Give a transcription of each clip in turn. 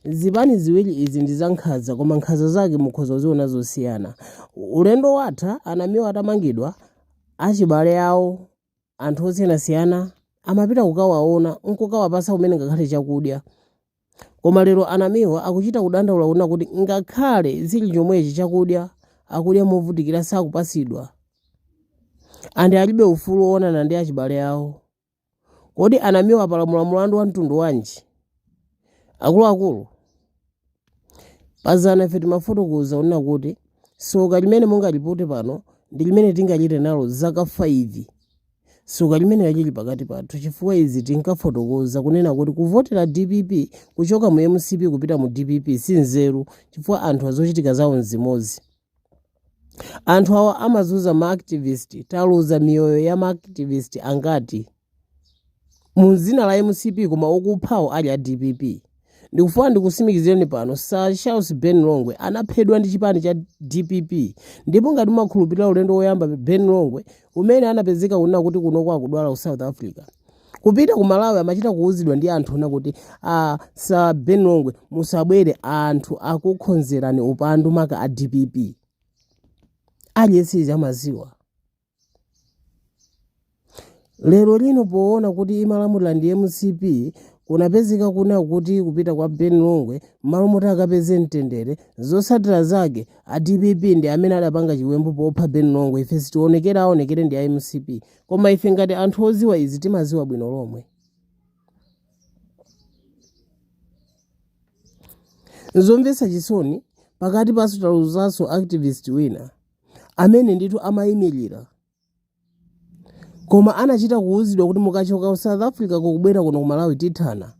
Zipani ziwiri izi ndi za nkhanza koma nkhanza zake mukhoza kuziona zosiyana. Ulendo watha a Namiwa atamangidwa, achibale awo, anthu osiyanasiyana amapita kukawaona n'kukawapatsa kumene ngakhale chakudya. Koma lero a Namiwa akuchita kudandaula kunena kuti ngakhale zili chomwechi chakudya akudya movutikira sakupatsidwa and alibe ufulu woonana ndi achibale awo. Kodi a Namiwa apalamula mulandu wa mtundu wanji? Akuluakulu, pazana ife timafotokoza kunena kuti soka limene mungalipute pano ndi limene tingachite nalo zaka 5. Soka limeneli lili pakati pathu chifukwa izi tinkafotokoza kunena kuti kuvotera dpp kuchoka mu mcp kupita mu dpp si nzeru chifukwa anthuwa zochitika zawo n'zimodzi. Anthu awa amazuza ma activist, taluza miyoyo ya ma activist angati mu dzina la mcp koma okuphawo ali a dpp ndikufuna ndikutsimikizireni pano sir charles ben longwe anaphedwa ndi chipani cha dpp ndipo ngati mumakhulupirira ulendo woyamba ben longwe umene anapezeka kunena kuti kunoko akudwala ku south africa Kupita ku Malawi amachita kuuzidwa ndi anthu kunena kuti a Sir Ben Longwe musabwere anthu akukhonzerani upandu maka a DPP. Aliyense amaziwa. Lero lino poona kuti imalamulira ndi MCP kunapezeka kunena kuti kupita kwa Ben Longwe mmalo moti akapeze mtendere zotsatira zake a DPP ndi amene adapanga chiwembu popha Ben Longwe ife sitionekera aonekere ndi a MCP Koma ife ngati anthu odziwa izi timazidziwa bwino lomwe. Nzomvetsa chisoni pakatipanso taluzanso activist wina amene ndithu amayimirira koma anachita kuwuzidwa kuti mukachoka ku south africa kukubwera kuno ku malawi tithana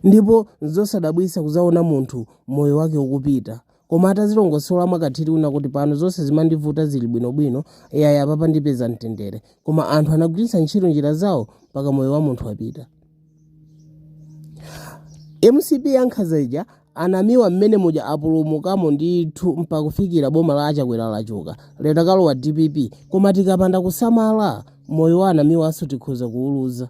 Ndipo n'zosadabwitsa kudzaona munthu moyo wake ukupita. Koma atazilongosola mwa katswiri kunena kuti pano zonse zimandivuta zili bwinobwino, yayi apapa ndipeza mtendere. Koma anthu anagwiritsa ntchito njira zawo mpaka moyo wa munthu wapita. Mcp yankhanza ija a Namiwa mmene muja apulumukamo ndithu mpaka kufikira boma la achakwera lachoka lero kwalowa dpp koma tikapanda kusamala moyo wa a Namiwanso tikhoza kuuluza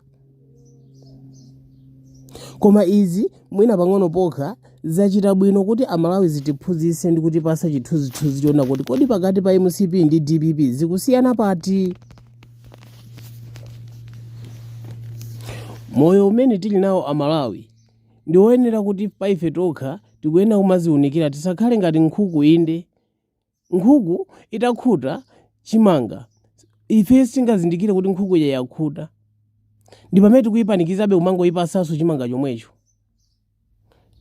koma izi mwina pang'ono pokha zachita bwino kuti amalawi zitiphunzitse ndi kutipasa chithunzithunzi chonena kuti kodi pakati pa mcp ndi dpp zikusiyana pati moyo umene tili nawo amalawi ndi woyenera kuti paife tokha tikuyenera kumaziunikira tisakhale ngati nkhuku inde Nkhuku itakhuta chimanga, ife sitingazindikire kuti nkhuku ija yakhuta. Ndi pamene tikuyipanikizabe kumangoyipasanso chimanga chomwecho.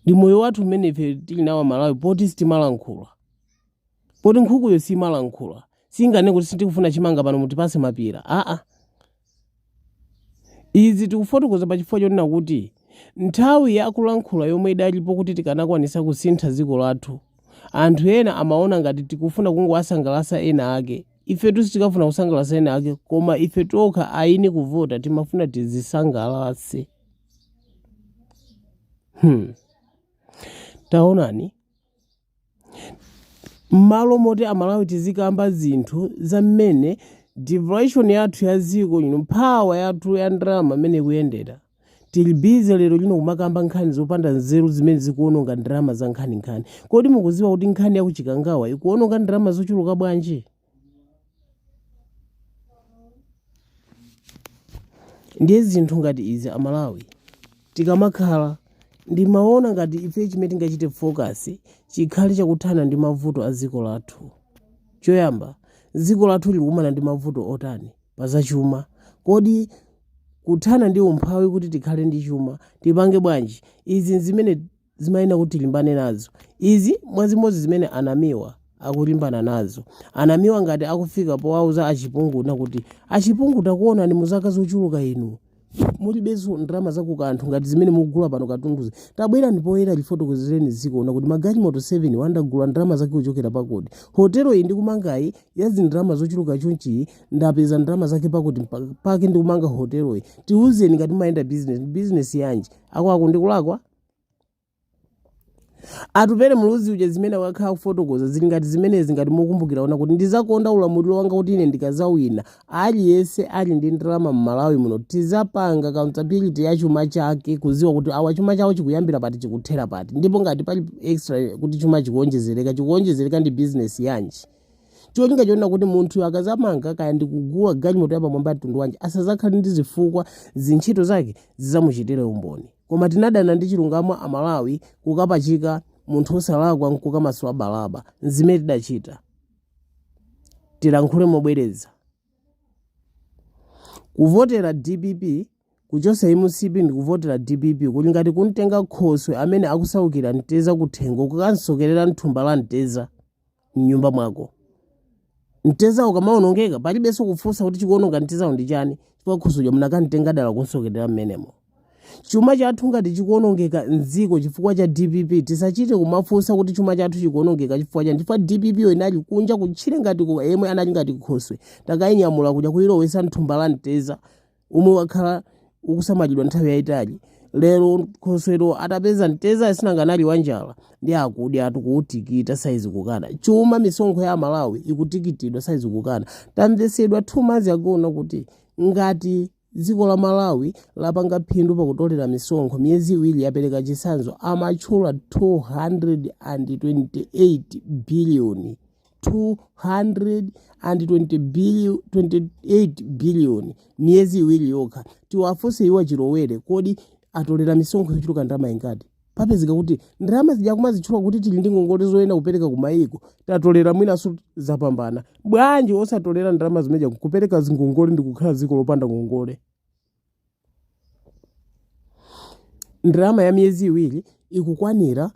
Ndi moyo wathu umene ife tili nawo Amalawi poti sitimalankhula. Poti nkhukuyo simalankhula, singanene kuti sitikufuna chimanga pano mutipase mapira, aa. Izi tikufotokoza pa chifukwa chonena kuti nthawi ya kulankhula yomwe idalipo kuti tikanakwanisa kusintha dziko lathu, anthu ena amaona ngati tikufuna kungowasangalasa ena ake. Ifetu sitinkafuna kusangalasa ena ake koma ife tokha ayini kuvota timafuna tizisangalase. Hmm. Taonani. m'malo moti amalawi tizikamba zinthu za mmene devaluation yathu ya dziko ino mphamvu yathu ya ndalama mmene ikuyendera tili bize lero lino kumakamba nkhani zopanda nzeru zimene zikuononga ndalama za nkhaninkhani kodi mukuziwa kuti nkhani yakuchikangawa ikuononga ndalama zochuluka bwanji ndiye zinthu ngati izi amalawi tikamakhala ndimaona ngati ife chimene tingachite focus chikhale chakuthana ndi mavuto a dziko lathu choyamba dziko lathu likukumana ndi mavuto otani pa zachuma kodi kuthana ndi umphawi kuti tikhale ndi chuma tipange bwanji izi nzimene zimayenera kuti tilimbane nazo izi mwazimodzi zimene anamiwa akulimbana nazo anamiwa ngati akufika powauza a Chipungu kunena kuti a Chipungu takuonani mu zaka zochuluka inu mulibenso ndalama zakukanthu ngati zimene mukugula pano katunduzi tabwerani poyera lifotokozereni dziko kunena kuti magalimoto 7 awa ndagula ndalama zake kuchokera pakuti hotelo iyi ndikumangayi ya zindalama zochuluka chonchiyi ndapeza ndalama zake pakuti mpa- pake ndikumanga hotelo iyi tiuzeni ngati mumayenda business business yanji akuti uko ndikulakwa Atupele Muluzi uja zimene wakhala kufotokoza zili ngati zimenezi ngati mukukumbukira onena kuti ndizakonza ulamuliro wanga kuti ine ndikazawina aliyense ali ndi ndalama mmalawi muno tizapanga accountability ya chuma chake kuziwa kuti awa chuma chawo chikuyambira pati chikuthera pati ndipo ngati pali extra kuti chuma chikuonjezereka chikuonjezereka ndi business yanji cholinga chonena kuti munthu akazamanga kaya ndikugula galimoto yapamwamba mtundu wanji asazakhale ndi zifukwa zintchito zake zizamuchitire umboni Koma tinadana ndi chilungamo a Malawi kukapachika munthu osalakwa nkukamasula Baraba. Nzimene tidachita. Tilankhule mobwereza. Kuvotera dpp kuchosa mcp ndikuvotera dpp kuli ngati kumtenga khoswe amene akusaukira mteza kuthengo kukamsokerera mthumba la mteza. m'nyumba mwako mteza ukamaonongeka palibenso kufunsa kuti chikuononga mtezawo ndi chani chifukwa khoswe munakamtenga dala kunsokerera mmenemo chuma chathu ngati chikuonongeka mdziko chifukwa cha dpp tisachite kumafunsa kuti chuma chathu chikuonongeka chifukwa chani chifukwa dpp yo inali kunja kutchire ngati ku- yemwe anali ngati khoswe takayinyamula kuja kuyilowesa mthumba la mteza omwe wakhala ukusamalidwa nthawi yayitali lero khosweyo atapeza mteza asinanga anali wanjala ndi akudyatu kuutikita saizi kukana chuma misonkho ya amalawi ikutikitidwa saizi kukana tamvesedwa two months ago na kuti ngati dziko la malawi lapanga phindu pakutolera misonkho miyezi iwiri yapereka chitsanzo amatchula 228 biliyoni 228 billion miyezi iwiri yokha tiwafunse iwo achilowere kodi atolera misonkho yochuluka ndalama ingati papezeka kuti ndalama zija kumazitchula kuti tili ndi ngongole zoyenera kupereka ku mayiko tatolera mwinanso zapambana bwanji osatolera ndalama zimezija kupereka zingongole ndi kukhala dziko lopanda ngongole Ndalama ya miyezi iwiri ikukwanira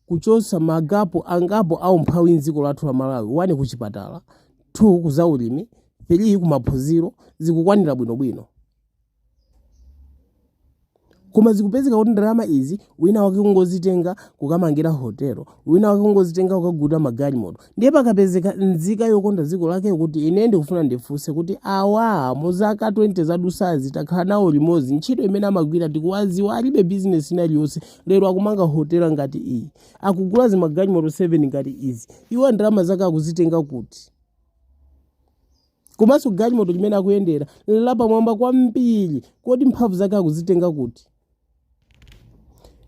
kuchotsa magapo angapo a umphawi m'dziko lathu la Malawi, 1 kuchipatala, 2 kuzaulimi, 3 kumaphunziro, zikukwanira bwinobwino. Koma zikupezeka kuti ndalama izi wina wake kungozitenga kukamangira hotelo, wina wake kungozitenga kukagulira magalimoto, ndiye pakapezeka nzika yokonda dziko lake kuti ine ndikufuna ndifunse kuti awa mu zaka 20 zadusazi takhala nawo limodzi ntchito imene amagwira tikuwaziwa alibe bizinesi ina iliyonse lero akumanga hotela ngati iyi akugula zimagalimoto 7 ngati izi iwo ndalama zake akuzitenga kuti komanso galimoto limene akuyendera nlapamwamba kwambiri kodi mphamvu zake akuzitenga kuti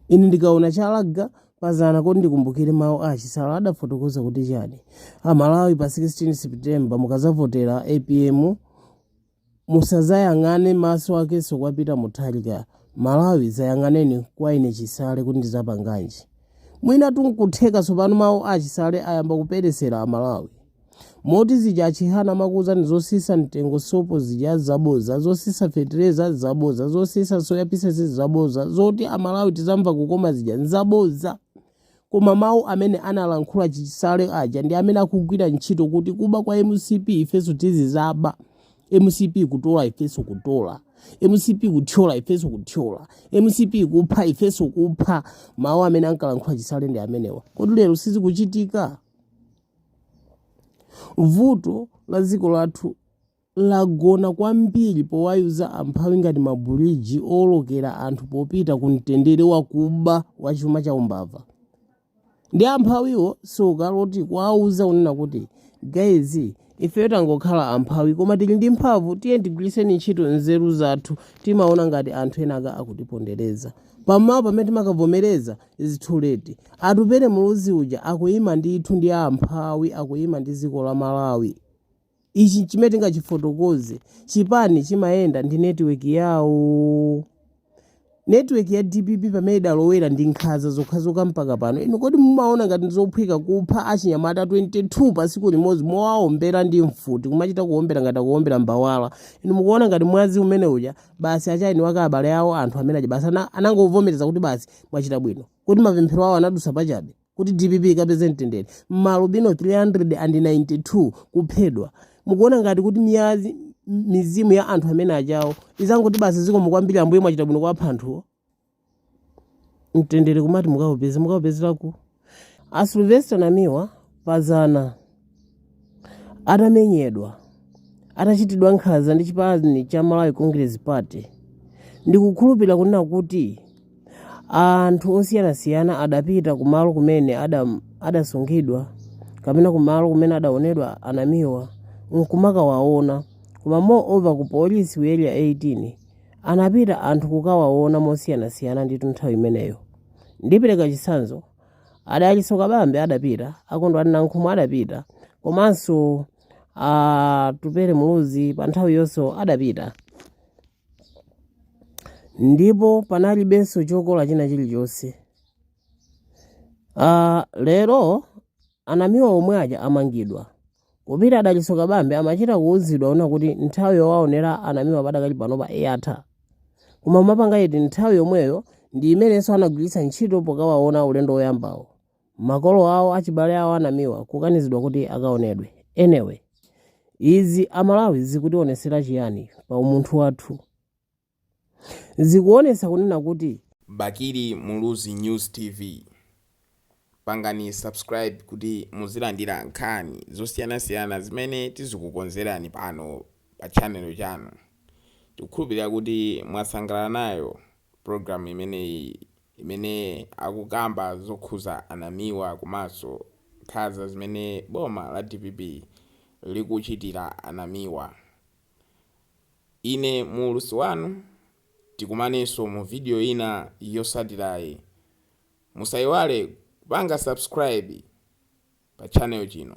Ine ndikaona chalaga pazana kodi ndikumbukire mawu a achisale adafotokoza kuti chani amalawi pa 16 september mukazavotera apm musazayang'ane maso anunso kwa peter mutharika malawi zayang'aneni kwa ine chisale kuti ndizapanganji mwina tu nkutheka tsopano mawu a achisale ayamba kupherezera amalawi moti zija achihana amakuuzani zosisa mtengo sopo zija zaboza zosisa fetereza zaboza zosisa soya pieces zaboza zoti amalawi tizamva kukoma zija nzaboza koma mawu amene analankhula chisale aja ndi amene akugwira ntchito kuti kuba kwa mcp ifenso tizizaba mcp kutola ifenso kutola mcp kuthyola ifenso kuthyola mcp kupha ifenso kupha mawu amene ankalankhula chisale ndi amenewa kodi lero sizikuchitika vuto la dziko lathu lagona kwambiri powayuza amphawi ngati mabuliji owolokera anthu popita ku mtendere wakuba wa chuma cha umbava ndi amphawiwo Ukati kuwauza kunena kuti guys ifeyo tangokhala amphawi koma tili ndi mphamvu tiye tigwiritseni ntchito nzeru zathu timaona ngati anthu enaka akutipondereza pamawa pamene timakavomereza it's too late atupele muluzi uja akuyima ndithu ndi amphawi akuyima ndi dziko la malawi ichi chimene tingachifotokoze chipani chimayenda ndi netiweki yawo netiweki ya dpp pamene idalowera ndi nkhanza zokhazokha mpaka pano inu kodi mumaona ngati ndizophweka kupha achinyamata 22 pa tsiku limodzi mowaombera ndi mfuti kumachita kuombera ngati kuombera mbawala inu mukuona ngati mwazi umene uja basi achina awo abale awo anthu amene aja basi ana- anangovomereza kuti basi mwachita bwino kuti mapemphero awo anadusa pachabe kuti dpp ikapeze mtendere maalubino 392 kuphedwa mukuona ngati kuti miyazi ya mizimu ya anthu amene ajawo izangoti basi zikomo kwambiri ambuye mwachita bwino kuwapha anthuwo mtendere kumati mukaupeza mukaupezera kuti a Sylvester Namiwa pazana atamenyedwa atachitidwa nkhanza ndi chipani cha Malawi Congress Party ndikukhulupirira kunena kuti anthu osiyanasiyana adapita kumalo kumene adam- adasungidwa kapena kumalo kumene adaonedwa a Namiwa nkumakawaona koma moreover ku polisi ku area 18 anapita anthu kukawaona mosiyanasiyana ndithu nthawi imeneyo ndipereka chitsanzo a Dalitso Kabambe adapita a Kondwani Nankhumwa adapita komanso Atupele Muluzi pa nthawi iyonso adapita ndipo panalibenso chokola china chilichonse Ah, lero a Namiwa omwe aja amangidwa Kupita a Dalitso Kabambe amachita kuuzidwa kunena kuti nthawi yowaonera a Namiwa padakali panopa yatha. Koma umapanga iti nthawi yomweyo ndiyo imenenso anagwiritsa ntchito pokawaona ulendo woyambawo. Makolo awo, achibale awo a Namiwa kukanizidwa kuti akaonedwe. Anyway, izi a Malawi zikutionetsera chiyani pa umunthu wathu? zikuonetsa kunena kuti. Bakili Muluzi News TV. Pangani subscribe kuti muzilandira nkhani zosiyanasiyana zimene tizikukonzerani pano pa channel chanu. Tikukhulupirira kuti mwasangalala nayo program imeneyi imene akukamba zokhudza a Namiwa komanso nkhanza zimene boma la dpp likuchitira a Namiwa. Ine muulutsi wanu, tikumanenso mu video ina yotsatirayi. Musaiwale kupanga subscribe pa channel chino.